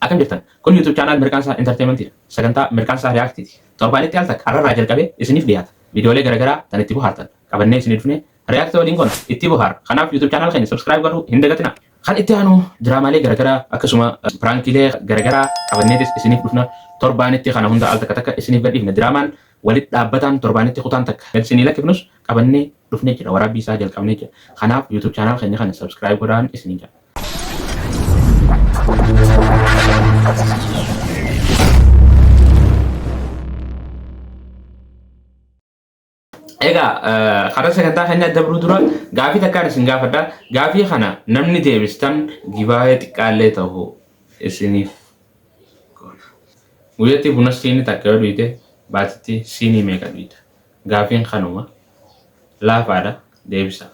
Akkam jirtan? Kun YouTube channel Mirqaansaa Entertainment dha. Sagantaa Mirqaansaa React ti. Torbaanitti al takka har'arraa jalqabee isiniif dhiyaata. Viidiyoolee garaagaraa tan itti bohaartan qabannee isinii dhufnee React waliin goona itti bohaara. Kanaaf YouTube channel keenya subscribe godhuu hin dagatinaa. Kan itti aanu diraamaalee garagaraa akkasuma piraankiilee garagaraa qabanneetis isiniif dhufna. Torbaanitti kana hunda al takka takka isiniif gadhiifna. Diraamaan walit dhaabbataan torbaanitti kutaan takka gad isinii lakkifnus qabannee dhufnee jira. Waraabbii isaa jalqabnee jira. Kanaaf YouTube channel keenya kana subscribe godhaan isiniin jedha. Egaa karaa sagantaa keenyaa dabruu dura gaafii takkaan isin gaafadha. Gaafii kana namni deebistan gibaa'ee xiqqaallee ta'u isiniif goona. Guyyatti buna siinii takka yoo dhuyte baatitti siinii meeqa dhuyta? Gaafiin kanuma laafaadha deebisaa.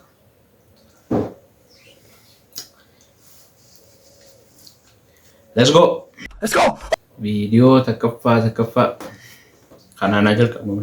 Let's go! Let's go! Viidiyoo takkaffaa takkaffaa kanaan haa jalqabnu.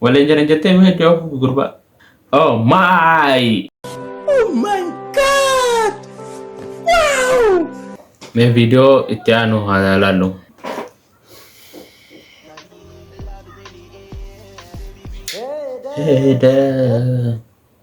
Waliin jiran jettee mee iddoo afuufi gurbaa. Oh my! Oh my god! Wow! Mee viidiyoo itti aanu haa ilaallu. Heeda.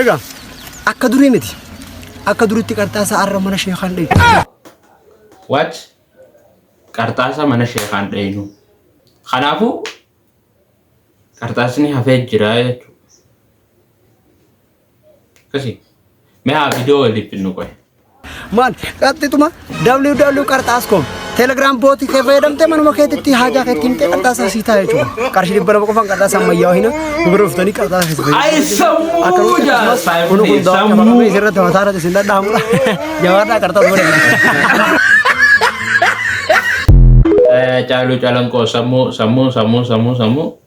Egaa akka durii miti. Akka duritti qarxaasaa arra mana sheekaan dhayu. What? Qarxaasaa mana sheekaan dhayinu. Kanaafuu qarxaasni hafee jira jechuudha. Akkasii. Mee haa viidiyoo waliif finnu qoye. Maal qaxxituma ww qarxaas koom telegram booti kee fayyadamtee manuma keetitti haajaa keetti himtee qarxaasaa sii taa'e jechuudha. Qarshii dhibba lama qofaan qarxaasa ammayyaa'oo hina gurguruu dhuftanii qarxaasa keessa fayyadamu. Ay sammuu Akkasumas jaasaa kun kun dawaa sammuu. qabamee isirratti mataa irratti isin dhadhaamudha. Jabaadhaa qarxaas godhama. Caaluu calanqoo sammuu sammuu sammuu sammuu sammuu.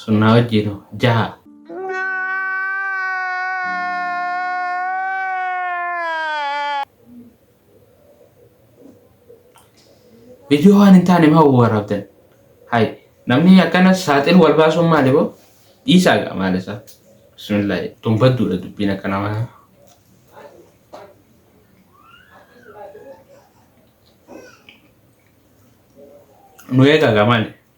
Sunnaa wajjiin hoo? Jaha. Viidiyoo waan hin taane maa waraabdan? Hay namni akkana saaxilu wal baasuun maali boo? Dhiisaa gaa maal isaa? Bismillaahi tun badduudha dubbiin akka namaa. Nu eegaa gaa maali?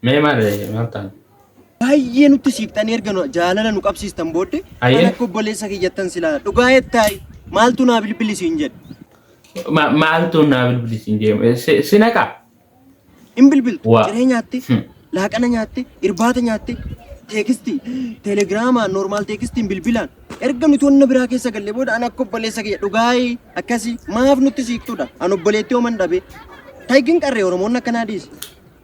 Mee maal maal taana? Baay'ee nutti siiqxanii erga nu- jaalala nu qabsiistan booddee Ayyee. kan akka obboleessa kiyyattan silaa dhugaa jettaayi maaltu naa bilbili siin jedhe Ma- Maaltu naa bilbili siin jedhe? Si- Si naqaa? hin bilbiltu Waa. ciree nyaatte Hmm. laaqana nyaatte irbaata nyaatte teekisti teelegiraamaan noormaal teekistiin bilbilaan erga nuti wanna biraa keessa galle booda an akka obboleessa kiyya dhugaayi akkasii maaf nutti siiqxudha an obboleettii homan dhabe taygin qarree oromoonni akkanaa dhiise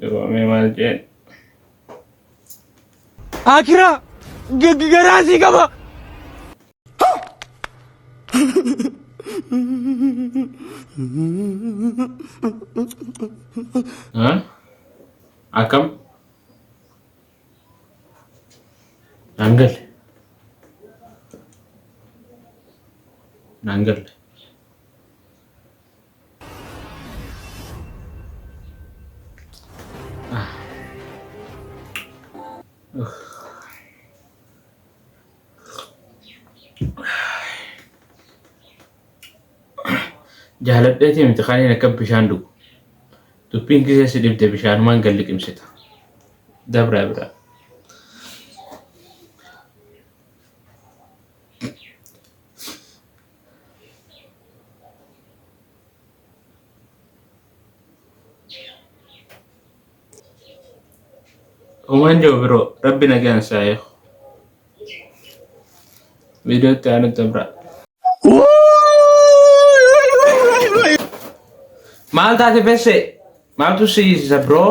Dibamee maal jeen? Akiraa garaa sii qaba. Akkam? Naan galle. Naan galle. jaaladheetii miti kan inni akka bishaan dhugu dubbiin gisee si dhibde bishaanumaan gad liqimsita dabraa biraa Uumaan jiru biroo rabbi nagaan isaa eegu. Viidiyoo itti aanutti biraa. Maal taate fesse? Maaltu si hiisisa biroo?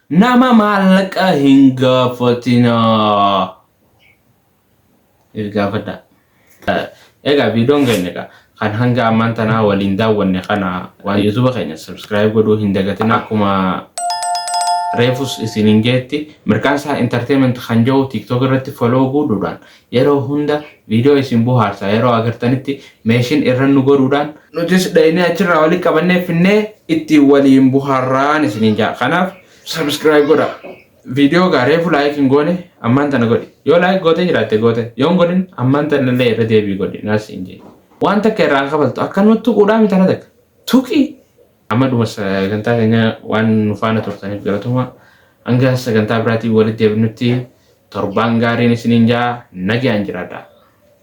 Nama maallaqa hin gaafatinaa. If gaafadhaa. Egaa viidiyoon keenya egaa kan hanga ammaan tanaa waliin daawwanne kana waan yuutuuba keenya subscribe godhuu hin dagatinaa akkuma reefus isiniin jeetti mirqaansaa entertainment kan jedhu tiktok irratti follow godhuudhaan Yeroo hunda video isin bohaarsa yeroo agartanitti meeshin irran nu godhuudhaan. Nutis dhaynee achirraa wali qabannee finnee ittiin waliin bohaarraan isiniin ja'a. Kanaaf subscribe godhaa. Video gaa reefu like hin goone ammaan tana godhi. Yoo like gootee jiraatte goote. Yoo hin godhin ammaan tana illee irra deebii godhi. Naas siin jee. Waan takka irraa hin kafaltu. Akkanuma tuquudhaa miti ana takka. Tuqi! Amma dhuma sagantaa keenyaa waan nu faana turtaniif galatoma. Hanga sagantaa biraatiin walitti deebinutti torbaan gaariin isiniin ja'a nagaan jiraadhaa.